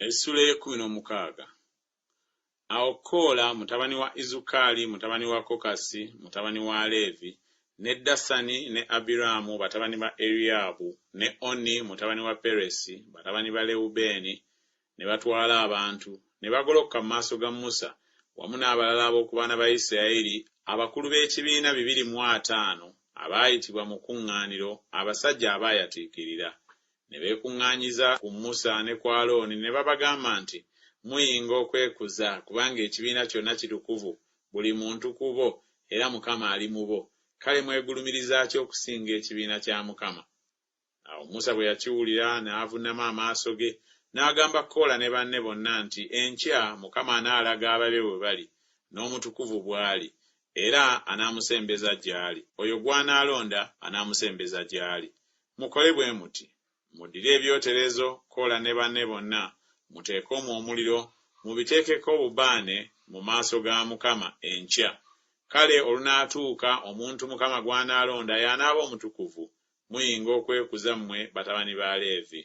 Essula ey'ekkumi n'omukaaga Awo Koola mutabani wa Izukaali, mutabani wa Kokasi, mutabani wa Leevi, ne Dasani ne Abiraamu, batabani ba Eriyaabu, ne Oni, mutabani wa Peresi, batabani ba Lewubeeni, ne batwala abantu, ne bagolokoka mu maaso ga Musa, wamu n'abalala ab'oku baana ba Yisirayeli, abakulu b'ekibiina bibiri mu ataano, abaayitibwa mu kkuŋŋaaniro, abasajja abaayatiikirira. Ne beekuŋŋaanyiza ku Musa ne ku Alooni ne babagamba nti, Muyinga okwekuza, kubanga ekibiina kyonna kitukuvu, buli muntu ku bo, era Mukama ali mu bo. Kale mwegulumiriza ki okusinga ekibiina kya Mukama? Awo Musa bwe yakiwulira, n'avunnama amaaso ge, n'agamba Koola ne banne bonna nti, Enkya Mukama anaalaga ababe we bali, n'omutukuvu bw'ali, era anaamusembeza gy'ali, oyo gw'anaalonda anaamusembeza gy'ali. Mukole bwe muti, Muddire ebyoterezo, Koola ne banne bonna, muteeke omwo omuliro, mubiteekeko obubaane mu maaso ga Mukama enkya. Kale olunaatuuka omuntu Mukama gw'anaalonda y'anaaba omutukuvu, muyinga okwekuza mmwe batabani ba Leevi.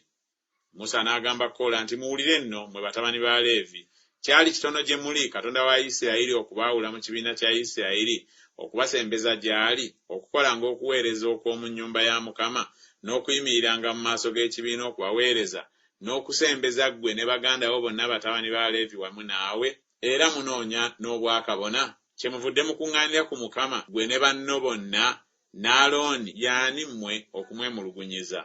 Musa n'agamba Koola nti, Muwulire nno, mmwe batabani ba Leevi! Kyali kitono gye muli, Katonda wa Yisirayiri okubaawula mu kibiina kya Yisirayiri, okubasembeza gy'ali, okukolanga okuweereza okw'omu nnyumba ya Mukama, n'okuyimiriranga mu maaso g'ekibiina okubaweereza, n'okusembeza ggwe ne baganda bo bonna batabani ba Leevi wamu naawe? Era munoonya n'obwakabona? Kyemuvudde mukuŋŋaanira ku Mukama, ggwe ne banno bonna, n'Alooni, y'ani mmwe okumwemulugunyiza?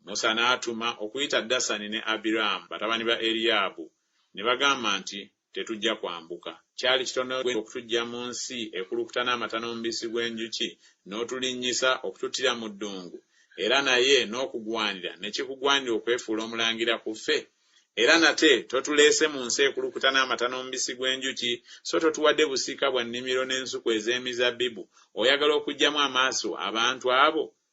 Musa n'atuma okuyita Dasani ne Abiraamu batabani ba Eriyaabu, ne bagamba nti, Tetujja kwambuka. Kyali kitono ggwe okutuggya mu nsi ekulukuta n'amata n'omubisi gw'enjuki, n'otulinnyisa okututtira mu ddungu? Era naye n'okugwanira ne kikugwanira okwefuula omulangira ku ffe? Era nate totuleese mu nsi ekulukuta n'amata n'omubisi gw'enjuki, so totuwadde busika bwa nnimiro n'ensuku ez'emizabbibu, oyagala okuggyamu amaaso abantu abo?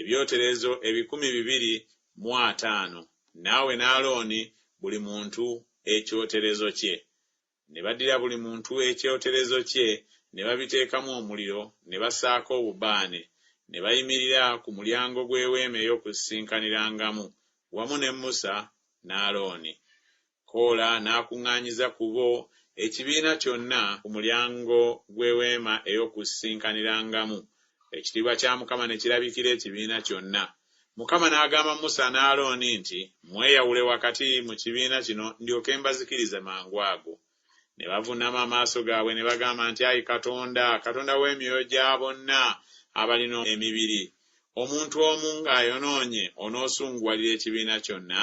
Ebyoterezo ebikumi bibiri mu ataano, naawe ne Alooni buli muntu ekyoterezo kye. Ne baddira buli muntu ekyoterezo kye, ne babiteekamu omuliro, ne basaako obubaane, ne bayimirira ku mulyango gw'Eweema ey'Okusisinkanirangamu, wamu ne Musa ne Alooni. Koola n'akuŋŋaanyiza ku bo ekibiina kyonna ku mulyango gw'Eweema ey'Okusisikanirangamu, ekitiibwa kya Mukama ne kirabikira ekibiina kyonna. Mukama n'agamba Musa ne Alooni nti, Mweyawule wakati mu kibiina kino ndyoke mbazikirize mangu ago. Ne bavunnama amaaso gaabwe ne bagamba nti, Ayi Katonda, Katonda w'emyoyo gya bonna abalina emibiri, omuntu omu ng'ayonoonye onoosunguwalira ekibiina kyonna?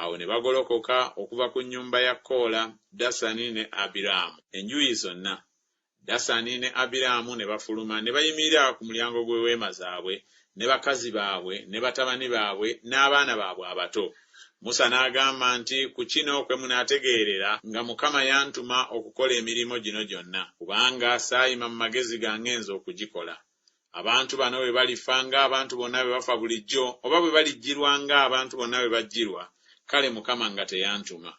Awo ne bagolokoka okuva ku nnyumba ya Koola, Dasani ne Abiraamu, enjuyi zonna, Dasani ne Abiraamu ne bafuluma ne bayimirira ku mulyango gw'eweema zaabwe, ne bakazi baabwe, ne batabani baabwe, n'abaana baabwe abato. Musa n'agamba nti, Ku kino kwe munaategeerera nga Mukama yantuma okukola emirimu gino gyonna, kubanga saayima mu magezi gange nze okugikola. Abantu bano bwe balifa nga abantu bonna bwe bafa bulijjo, oba bwe balijjirwa nga abantu bonna bwe bajjirwa, kale Mukama nga teyantuma.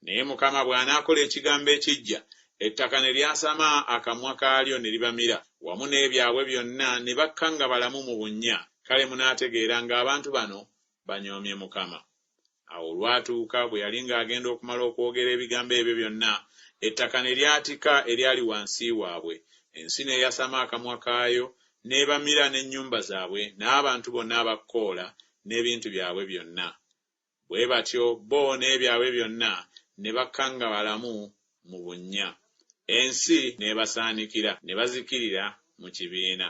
Naye Mukama bw'anaakola ekigambo ekiggya, ettaka ne lyasama akamwa kaalyo ne libamira, wamu n'ebyabwe byonna, ne bakka nga balamu mu bunnya, kale munaategeera nga abantu bano banyoomye Mukama. Awo olwatuuka bwe yali ng'agenda okumala okwogera ebigambo ebyo byonna, ettaka ne lyatika eryali wansi waabwe, ensi n'eyasama akamwa kaayo, n'ebamira, n'ennyumba zaabwe, n'abantu bonna aba Koola, n'ebintu byabwe byonna. Bwe batyo bo n'ebyabwe byonna ne bakangabalamu mu bunnya, ensi n'ebasaanikira, ne bazikirira mu kibiina.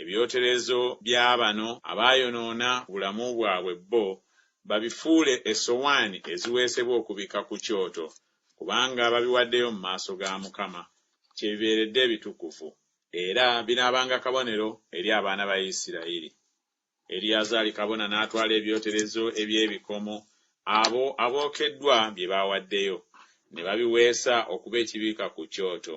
Ebyoterezo bya bano abaayonoona ku bulamu bwabwe bo babifuule essowaani eziweesebwa okubikka ku kyoto, kubanga babiwaddeyo mu maaso ga Mukama, kye bibeeredde ebitukuvu, era binaabanga kabonero eri abaana ba Isirayiri. Eriyazaali kabona n'atwala ebyoterezo eby'ebikomo abo abookeddwa bye baawaddeyo, ne babiweesa okuba ekibikka ku kyoto,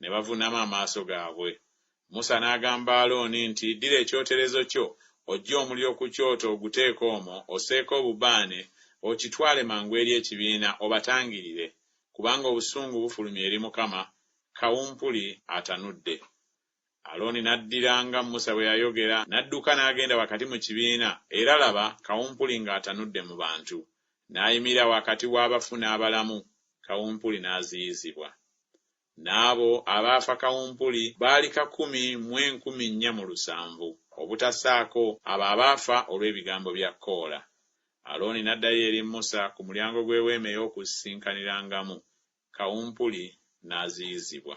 Ne bavuunama amaaso gaabwe. Musa n'agamba Alooni nti, Ddira ekyoterezo kyo, oggye omuliro ku kyoto oguteeke omwo, osseeko obubaane, okitwale mangu eri ekibiina obatangirire, kubanga obusungu bufulumye eri Mukama, kawumpuli atanudde. Alooni n'addira nga Musa bwe yayogera, n'adduka n'agenda wakati mu kibiina, era laba, kawumpuli ng'atanudde mu bantu, n'ayimirira wakati w'abafu n'abalamu, kawumpuli n'aziyizibwa. N'abo abaafa kawumpuli baali kakumi mu enkumi nnya mu lusanvu, obutasaako abo abaafa olw'ebigambo bya Koola. Alooni n'addayo eri Musa ku mulyango gw'Eweema ey'Okusisinkanirangamu, kawumpuli n'aziyizibwa.